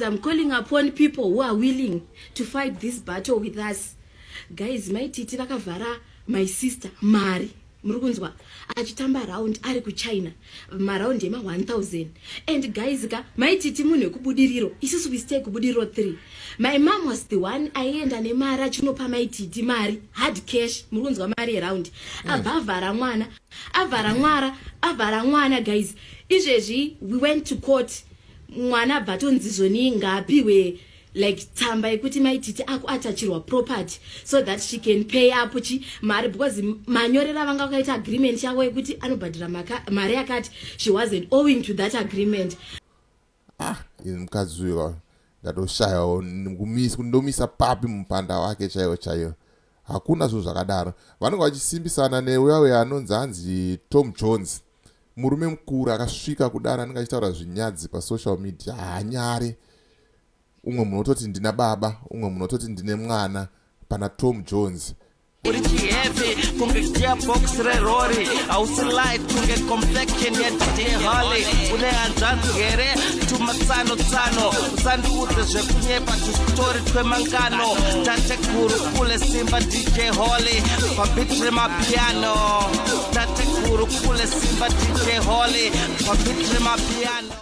I'm calling upon people who are willing to fight this battle with us guys maititi vakavhara my sister mari muri kunzwa achitamba round ari kuchina maraundi ema 1000 and guys ka maititi munhu wekubudiriro isusu we stay kubudiriro 3 my mom was the one aienda nemari achinopa maititi mari hard cash muri kunzwa mari yeraundi hmm. abva avhara mwana avhara mwara avhara mwana guys izvezvi we went to court mwana abva atonzizvo nii ngaapihwe like tsamba yekuti maititi ako atachirwa property so that she can pay up chi mari because manyorera vanga vakaita agreement yavo yekuti anobhadhira mari yakati she wasn't owing to that agreement ah ini mukadzi uyo ndatoshayawo ndomisa papi mupanda wake chaiwo chaiwo Hakuna zvinhu zvakadaro. Vanenge vachisimbisana neuya uya anonzi hanzi Tom Jones. Murume mukuru akasvika kudaro anenge achitaura zvinyadzi pasocial media haanyare. Umwe munhu ototi ndina baba, umwe munhu ototi ndine mwana pana Tom Jones. Uri chihepi kunge gearbox rerori hausi light kunge complexion yedeholi une hanzvanzi here tumatsano tsano usandiudze zvekunyepa tusitori twemangano tatekuru kule simba dj holy pabitre mapiano tatekuru kule simba dj holy pabitre mapiano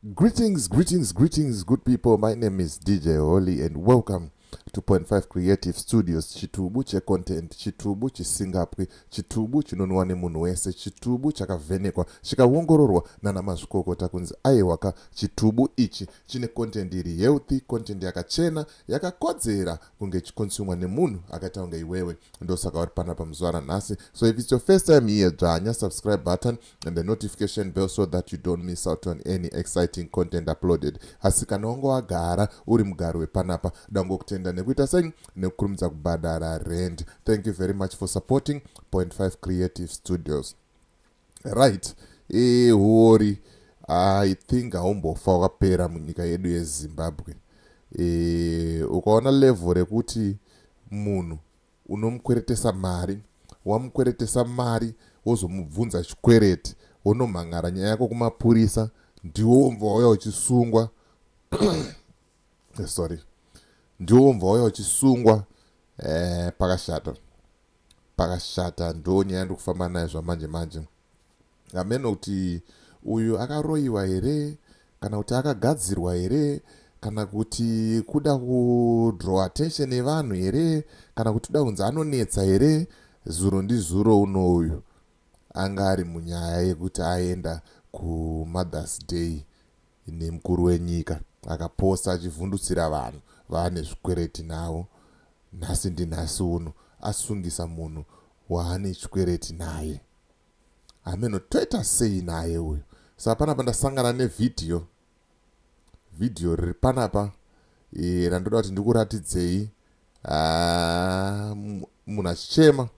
Greetings, greetings, greetings, good people. My name is DJ Holy, and welcome to Point Five Creative Studios. Chitubu che content, chitubu chisingapwi, chitubu chinonwa nemunhu wese, chitubu chakavhenekwa, chikaongororwa nana mazvikokota kunzi aiwaka chitubu ichi chine content iri healthy, content yakachena, yakakodzera kunge ichikonsumwa nemunhu akaita kunge iwewe ndosaka uri panapa muzuva ranhasi so if its your first time here dzvanya subscribe button and the notification bell so that you don't miss out on any exciting content uploaded asi kana wanga wagara uri mugari wepanapa dangokutenda nekuita sei nekukurumidza kubhadhara rend thank you very much for supporting 0.5 creative studios Right ee huori I think haumbofa wakapera munyika yedu yezimbabwe e, ukaona level rekuti munhu unomukweretesa mari wamukweretesa mari wozomubvunza chikwereti wonomhan'ara nyaya yako kumapurisa ndiwo womva wauya uchisungwa eh, sorry ndiwo womva wauya uchisungwa eh, pakashata pakashata ndo nyaya yandiri kufamba nayo zvamanje manje hameno kuti uyu akaroyiwa here kana kuti akagadzirwa here kana kuti kuda kudraw attention yevanhu here kana kuti kuda kunzi anonetsa here zuro ndizuro uno uyu anga ari munyaya yekuti aenda kumother's day Ini mukuru wenyika akaposa achivhundutsira vanhu vaane zvikwereti navo nhasi ndinhasi uno asungisa munhu waane chikwereti naye hameno toita sei naye uyu saka panapa ndasangana nevhidhiyo vhidhiyo riri panapa e, randoda kuti ndikuratidzei ah, munhu achichema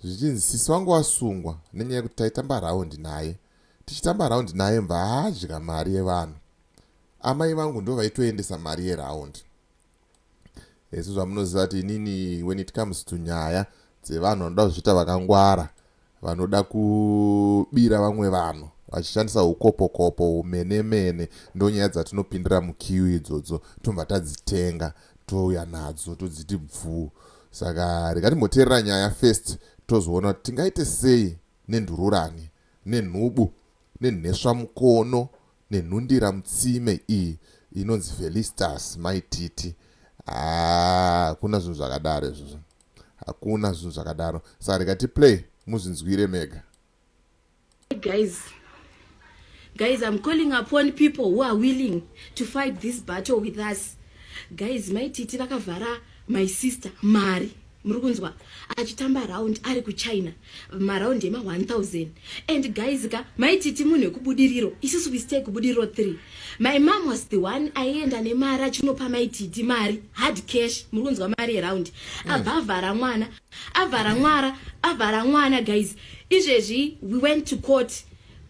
zvichinzi sisi wangu wasungwa nenyaya yekuti taitamba raundi naye tichitamba raundi naye mva haadya mari yevanhu amai vangu ndo vaitoendesa mari yeraundi hesi zvamunoziva kuti inini when it comes to nyaya dzevanhu vanoda kuzviita vakangwara vanoda kubira vamwe vanhu vachishandisa ukopokopo humene mene ndonyaya dzatinopindira mukiu idzodzo tobva tadzitenga touya nadzo todziti bvuu saka rega timboteerera nyaya first tozoona kuti tingaite sei nenhururani nenhubu nenheswa mukono nenhundira mutsime iyi inonzi felistas maititi hakuna zvinhu zvakadaro izvozvo hakuna zvinhu zvakadaro saka rega tiplay muzvinzwire mega Guys, guys, I'm calling upon people who are willing to fight this battle with us. Guys, my titi vakavhara my sister mari muri kunzwa achitamba round ari kuchina maraundi ema 1000 and guys ka maititi munhu wekubudiriro isusu wistay kubudiriro 3 my mom was the one aienda nemari achinopa maititi mari hard cash muri kunzwa mari yeraundi mm. abhavhara mwana avhara mwara avhara mwana guys izvezvi we went to court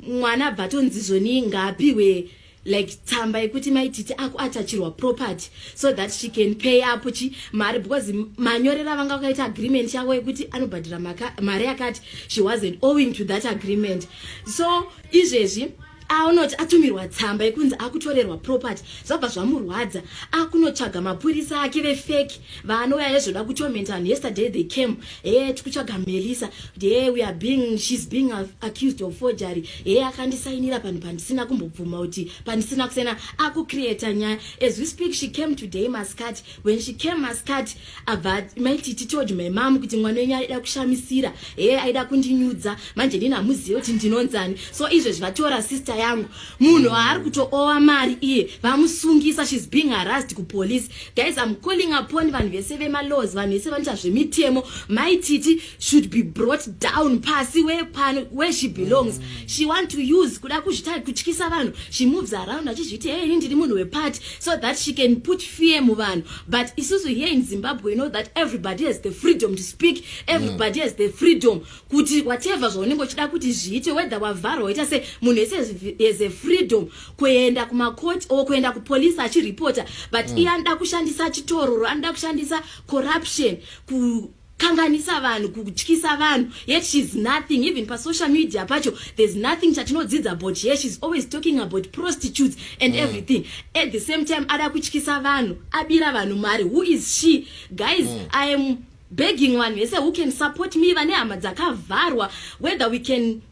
mwana abva atonzi zvoni ngaapiwe like tsamba yekuti maititi ako atachirwa property so that she can pay up chi mari because manyorera vanga vakaita agreement yavo yekuti anobhadhira mari yakati she wasn't owing to that agreement so izvezvi aunoti atumirwa tsamba yekunzi akutorerwa property zvabva zvamurwadza akunotsvaga mapurisa ake vefeki vaanouya yezvoda kutorment vanhu yesterday they came hee tikutsvaga melisa hee we are being she's being accused of forgery hee akandisainira panhu pandisina kumbobvuma kuti pandisina kusena akucreata nyaya as we speak she came today mascati when she came mascati abva mai titi told my mam kuti mwana wenyu aida kushamisira he aida kundinyudza manje ndini hamuzive kuti ndinonzani so izvezvi vatora sister yangu munhu waari kutoowa mari iye vamusungisa shes being harassed kupolice guys im calling upon vanhu vese vemalaws vanhu vese vanoita zvemitemo mai titi should be brought down pasi wepano where she belongs she want to use kuda kuzvita kutyisa vanhu she moves around achizviti hei ini ndiri munhu wepati so that she can put fear muvanhu but isusu here in zimbabwe you know that everybody has the freedom to speak everybody mm. has the freedom kuti whatever zvaunenge uchida kuti zviite whether wavharwa waita se munhu ese has a freedom kuenda kumacourt or kuenda kupolice achiripota but mm. iye anoda kushandisa chitororo anoda kushandisa corruption ku kanganisa vanhu kutyisa vanhu yet she's nothing even pasocial media pacho there's nothing chatinodzidza about her she's always talking about prostitutes and mm. everything at the same time ada kutyisa vanhu abira vanhu mari who is she guys mm. i am begging vanhu vese who can support me vane hama dzakavharwa whether we can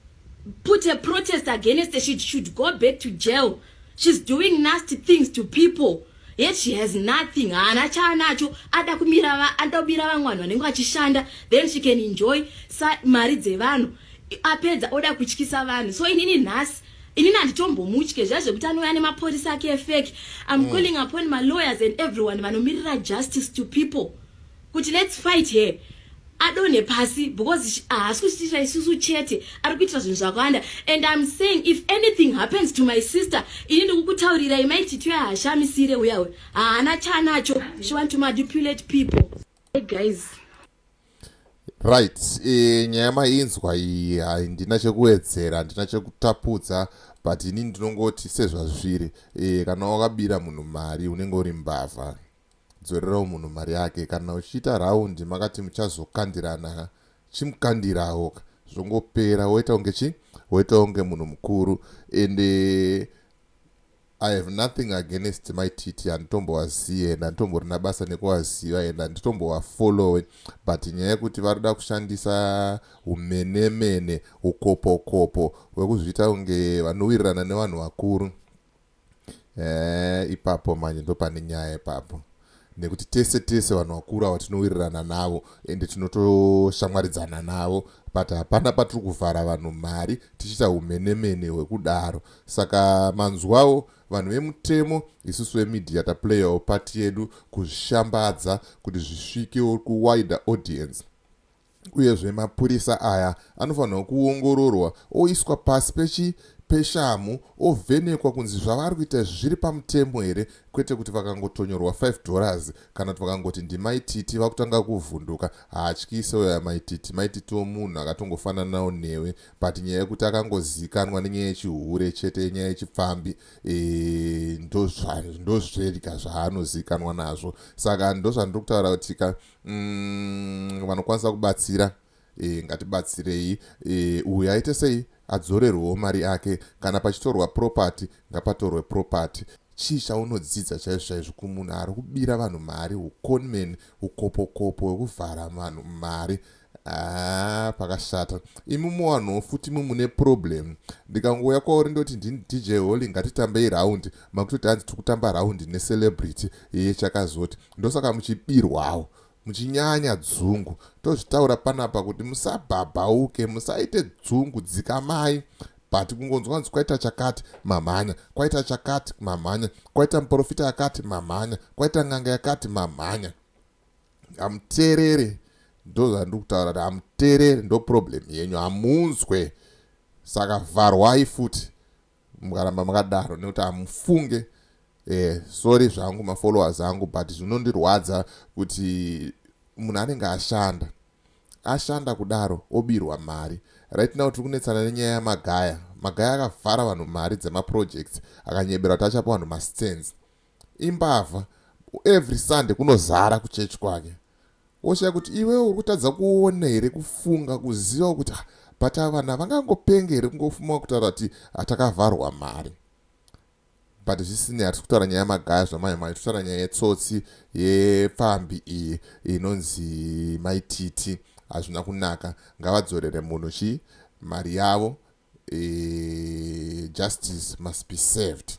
put a protest against her she should go back to jail she's doing nasty things to people Yet she has nothing. Haana chaanacho. Ada kumira va anoda kubira vamwe vanhu vanenge vachishanda. Then she can enjoy sa mari dzevanhu. Apedza oda kutyisa vanhu. So inini nhasi inini handitombomutye zviya zvekuti anouya nemaporisa ake efeki im mm. calling upon malawyers and everyone vanomirira justice to people kuti let's fight here adonhe pasi because haasi kuchitira isusu chete ari kuitira zvinhu zvakawanda and im saying if anything happens to my sister ini ndikukutaurirai maitityo yahashamisire uyawe haana chanacho she want to manipulate people hey guys right e, nyaya mainzwa iyi handina chekuwedzera handina chekutapudza but ini ndinongoti sezvazviri e, kana wakabira munhu mari unenge uri mbavha Dzorerawo munhu mari yake kana uchiita round makati muchazokandirana chimukandirawo ka zvongopera woita kunge chi woita kunge munhu mukuru and eh, I have nothing against my titi handitombovazive and handitomborina basa nekuvaziva and handitombovafollowe but nyaya yekuti vari kuda kushandisa umenemene ukopokopo hwekuzviita kunge vanowirirana nevanhu vakuru Eh, ipapo manje ndopane nyaya ipapo nekuti tese tese vanhu vakuru ava tinowirirana navo ende tinotoshamwaridzana navo but hapana patiri kuvhara vanhu mari tichiita umenemene hwekudaro saka manzwawo vanhu vemutemo isusu vemidhiya taplayawo pati yedu kuzvishambadza kuti zvisvikewo kuwider audience Uyezve mapurisa aya anofanirwa kuongororwa oiswa pasi pechi peshamhu ovhenekwa kunzi zvavari kuita izvi zviri pamutemo here kwete kuti vakangotonyorwa 5 dollars kana kuti vakangoti ndimaititi vakutanga kuvhunduka haatyise uyo amaititi maititiwo munhu akatongofananawo newe but nyaya yekuti akangozikanwa nenyaya yechihure chete yenyaya yechipfambi ndozvedya zvaanozikanwa nazvo saka ndozvandiri kutaura kuti ka mm, vanokwanisa kubatsira e, ngatibatsirei e, uyu aite sei adzorerwewo mari yake kana pachitorwa property ngapatorwe property chii chaunodzidza chaizvo chaizvo kumunhu ari kubira vanhu mari uconman ukopokopo wekuvhara vanhu mari Haa pakashata imi muwanhu futi imi mune problem ndikangouya kwauri ndoti ndini dj holy ngatitambei round makutoti hanzi tiri kutamba round necelebrity iye chakazoti ndosaka muchibirwawo muchinyanya dzungu tozvitaura panapa kuti musabhabhauke musaite dzungu dzikamai but kungonzwa kunzi kwaita chakati mamhanya kwaita chakati mamhanya kwaita muprofita yakati mamhanya kwaita n'anga yakati mamhanya hamuteereri ndozvandiri kutaura kuti hamuteereri ndo problem yenyu hamunzwe saka vharwai futi mukaramba makadaro nekuti hamufunge eh, sorry zvangu mafollowers angu but zvinondirwadza kuti munhu anenge ashanda ashanda kudaro obirwa mari right now tiri kunetsana nenyaya yamagaya magaya akavhara vanhu mari dzemaprojects akanyeberwa kuti achapa vanhu mastands imbavha every sunday kunozara kuchechi kwake woshaya kuti iwewe uri kutadza kuona here kufunga kuziva kuti ah, but avanhu havangangopenge here kungofuma kutaura kuti hatakavharwa ah, mari but zvisinei hatisi kutaura nyaya yemagaya zvamai mai totaura nyaya yetsotsi yepfambi iyi inonzi maititi hazvina kunaka ngavadzorere munhu chii mari yavo e, justice must be served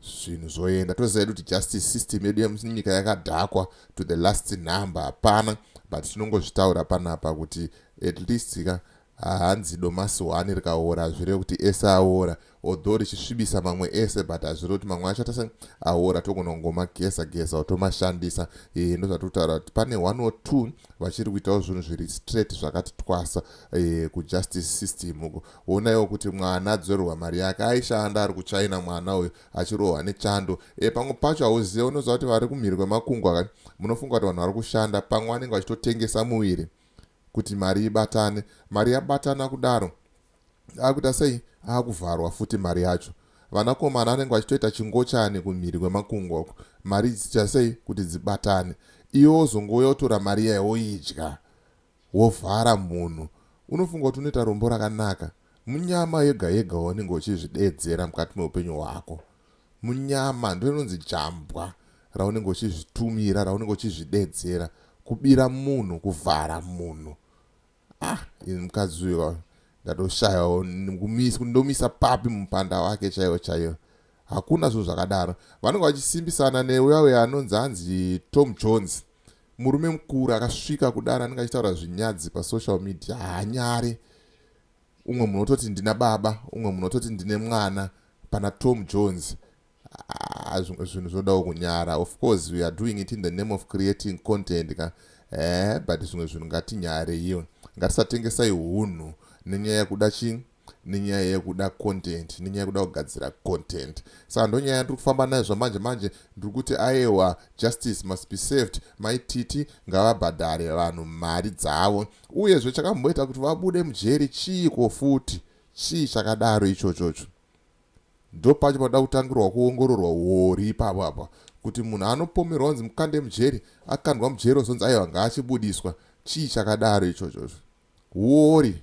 zvinhu zvoenda toziva kuti justice system yedu yemunyika yakadhakwa to the last number hapana but tinongozvitaura panapa kuti at least ka hanzi domasi one rikaora hazvireve kuti ese aora although richisvibisa mamwe ese but hazvireve kuti mamwe acho atase aora togonongoma gesa gesa otomashandisa e, eh, ndozvatiri kutaura kuti pane one or two vachiri kuitawo zvinhu zviri straight zvakati twasa eh, kujustice system uko wonaiwo kuti mwana adzorerwa mari yake aishanda ari kuchina mwana uyo achirohwa nechando e, pamwe pacho hauzive unoziva kuti vari kumhiri kwemakungwa ka munofunga kuti vanhu vari kushanda pamwe vanenge vachitotengesa muviri kuti mari ibatane mari yabatana kudaro akuita sei akuvharwa futi mari yacho vanakomana anenge vachitoita chingochani kumhiri kwemakungwa uko mari dzichita sei kuti dzibatane iwe wozongouya utora mari yayo woidya Wovhara munhu unofunga kuti unoita rombo rakanaka. Munyama yega yega waunenge uchizvideedzera mukati meupenyu hwako. Munyama ndiro rinonzi jambwa raunenge uchizvitumira, raunenge uchizvideedzera. Kubira munhu, kuvhara munhu. Ah, ini mukadzi uyo ndatoshayawo ndomisa papi mupanda wake chaiwo chaiwo. hakuna zvinhu zvakadaro vanenge vachisimbisana neuya uya anonzi hanzi tom jones murume mukuru akasvika kudaro anenge achitaura zvinyadzi pasocial media hanyare umwe munhu ototi ndina baba umwe munhu ototi ndine mwana pana tom jones ah, zvinhu zvodawo kunyara of course we are doing it in the name of creating content ka eh, but zvimwe zvinhu ngatinyareiwe ngatisatengesai unhu nenyaya yekuda chii nenyaya yekuda content nenyaya yekuda kugadzira content saka ndonyaya yandiri kufamba nayo zvamanje manje ndiri kuti ayewa justice must be saved maititi ngavabhadhare vanhu mari dzavo uyezve chakamboita kuti vabude mujeri chiiko futi chii chakadaro ichochocho ndo pacho panoda kutangirwa kuongororwa uori ipapo apa kuti munhu anopomerwa onzi mukande mujeri akandwa mujeri ozonzi aiwa ngaachibudiswa chii chakadaro ichochocho uori